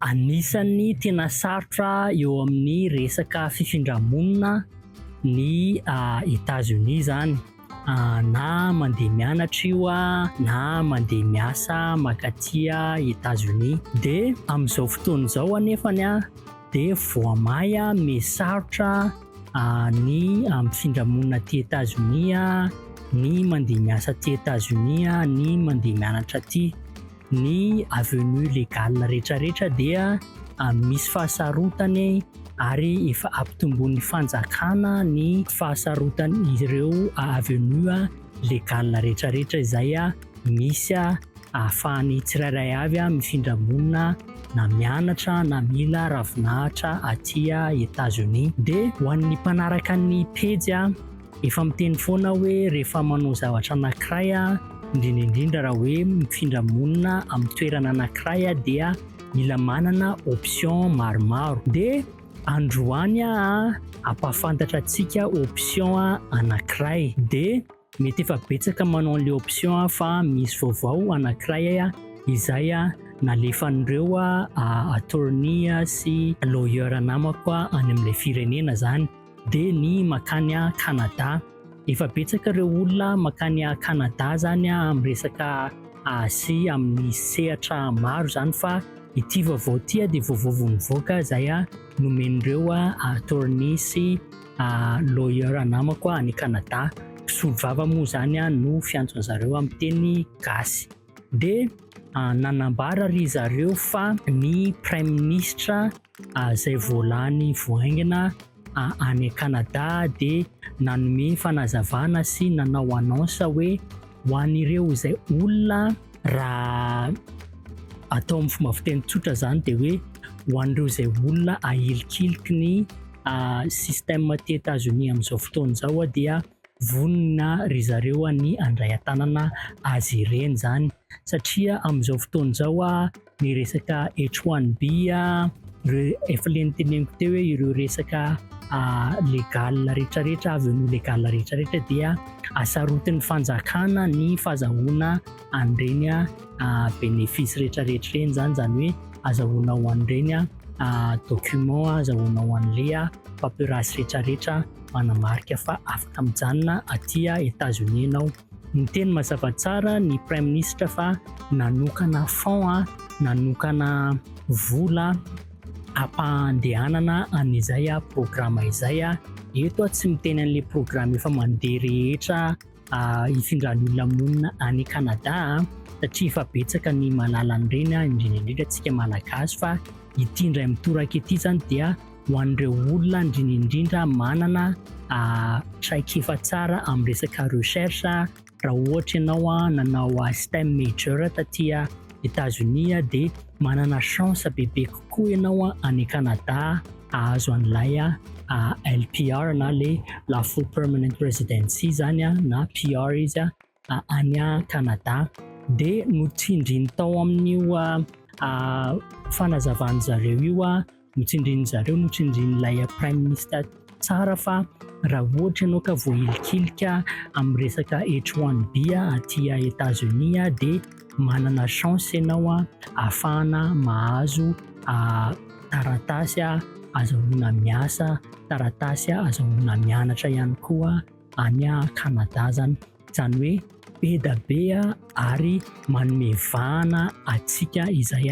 Anisan'ny tena sarotra eo amin'ny resaka fifindra-monina ny Etazonia izany na mandeha mianatra io na mandeha miasa mankaty Etazonia. Dia amin'izao fotoana izao anefa dia voamay amin'ny sarotra ny mifindra-monina aty Etazonia, ny mandeha miasa aty Etazonia, ny mandeha mianatra aty. ny avenue légale rehetrarehetra dia misy fahasarotany ary efa ampitomboin'ny fanjakana ny fahasarotany ireo avenue légale rehetrarehetra izay misy ahafahan'ny tsirairay avy mifindra monina na mianatra na mila ravinahitra aty États-Unis dia ho an'ny mpanaraka ny pejy Efa miteny foana aho hoe rehefa manao zavatra anankiray aho, indrindra indrindra raha hoe mifindra monina amin'ny toerana anankiray aho dia mila manana option maromaro. Dia androany aho hampahafantatra antsika option anankiray. Dia mety efa betsaka manao an'ilay option aho fa misy vaovao anankiray izay nalefan'ireo attorney sy lawyer namako any amin'ilay firenena izany. dia ny mankany Canada. Efa betsaka ireo olona mankany Canada zany amin'ny resaka Asie amin'ny sehatra maro zany fa ity vaovao ity dia vaovao vao nivoaka izay nomen'ireo attorney sy lawyer namako any Canada. Mpisolo vava moa zany no fiantsony zareo amin'ny teny gasy. Dia nanambara ry zareo fa ny praiminisitra izay vao lany vao haingana any Canada dia nanome fanazavana sy nanao annonce hoe ho an'ireo izay olona raha atao amin'ny fomba fiteny tsotra izany dia hoe ho an'ireo izay olona ahilikiliky ny ah, système aty Etazonia amin'izao fotoana izao dia vonona ry zareo ny handray an-tanana azy ireny izany satria amin'izao fotoana izao ny resaka H1B ireo efa le niteneniko teo hoe ireo resaka legal rehetra rehetra avy eo ny legal rehetra rehetra dia asarotin'ny fanjakana ny fazahoana an'ireny bénéfice rehetra rehetra ireny zany zany hoe azahoana ho an'ireny document azahoana ho an'le paperasse rehetra rehetra manamarika fa afaka mijanona aty États-Unis ianao Niteny mazava tsara ny Praiminisitra fa nanokana fonds, nanokana vola ampandehanana an'izay programa izay. Eto aho tsy miteny an'ilay programa efa mandeha rehetra hifindran'ny olona monina any Canada satria efa betsaka ny mahalala an'ireny, indrindra indrindra antsika Malagasy fa ity indray mitoraka ity izany dia ho an'ireo olona indrindra indrindra manana traikefa tsara amin'ny resaka recherche raha ohatra ianao a nanao STEM major tatia Etazonia dia manana chance bebe kokoa ianao a any Canada ahazo an'ilay a LPR na le la full permanent residency zany a na PR izy a any Canada dia notsindriny tao amin'io fanazavan'ny zareo io notsindrin'ny zareo notsindrin'ilay prime minister tsara fa raha ohatra ianao ka voahilikilika amin'ny resaka H1B aty États-Unis dia manana chance ianao ahafahana mahazo taratasy azahoana miasa, taratasy azahoana mianatra ihany koa. any Canada zany izany hoe be da be ary manome vahana atsika izay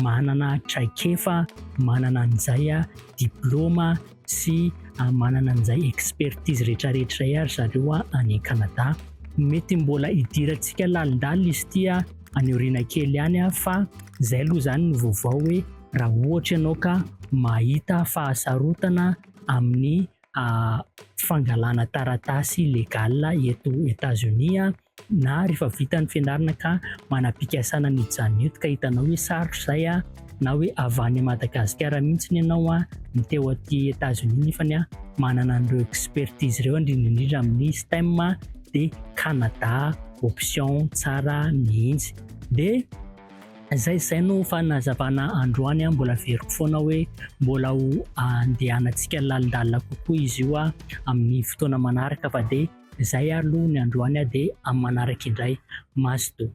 manana traikefa manana an'izay diploma sy manana an'izay expertise rehetrarehetra izay ary zareo any Canada mety mbola hidirantsika lalindalina izy tia any aoriana kely any fa izay aloha izany ny vaovao hoe raha ohatra ianao ka mahita fahasarotana amin'ny fangalana taratasy legal eto Etazonia na rehefa vita ny fianarana ka manam-pikasana ny hijanona eto ka hitanao hoe sarotra izay a na hoe avy any Madagasikara mihitsy ny ianao a ny teo aty Etazonia nefa ny a manana an'ireo expertise ireo indrindra indrindra amin'ny STEM dia Canada option tsara mihitsy dia Izay izay no fanazavana androany an, mbola averiko foana hoe mbola ho andehanantsika lalindalina kokoa izy io amin'ny fotoana manaraka fa dia izay aloha ny androany dia amin'ny manaraka indray. Mazotoa.